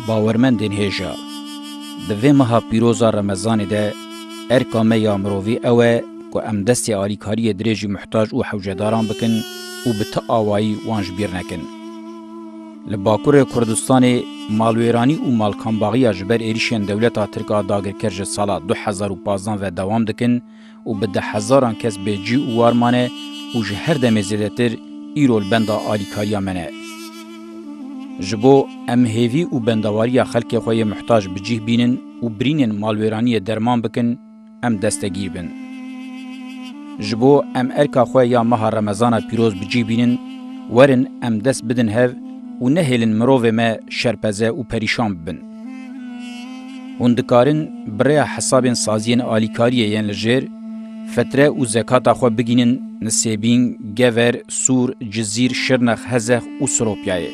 Bawermendên hêja, di vê meha pîroz a remezanê de erka me ya mirovî ew e ku em destê alîkariyê dirêjî muhtac û hewcedaran bikin û bi ti awayî wan ji bîr nekin. Li Bakurê Kurdistanê malwêranî û malkanbaxiya ji ber êrîşên dewleta Tirk a dagirker ji sala du hezar û pazdeh ve dewam dikin û bi deh hezaran kes bêcî û war mane û ji her demê zêdetir îro li benda alîkariya me ne. Ji bo em hêvî û bendewariya xelkê xwe yê muhtac bi cîh bînin û birînên malwêraniyê derman bikin, em destegîr bin. Ji bo em erka xwe ya meha remezana pîroz bi cî bînin, werin em dest bidin hev û nehêlin mirovê me şerpeze û perîşan bibin. Hûn dikarin bi rêya hesabên saziyên alîkariyê yên li jêr, fetre û zekata xwe bigînin Nisêbîn, Gever, Sûr, Cizîr, Şirnex, Hezex û Siropyayê.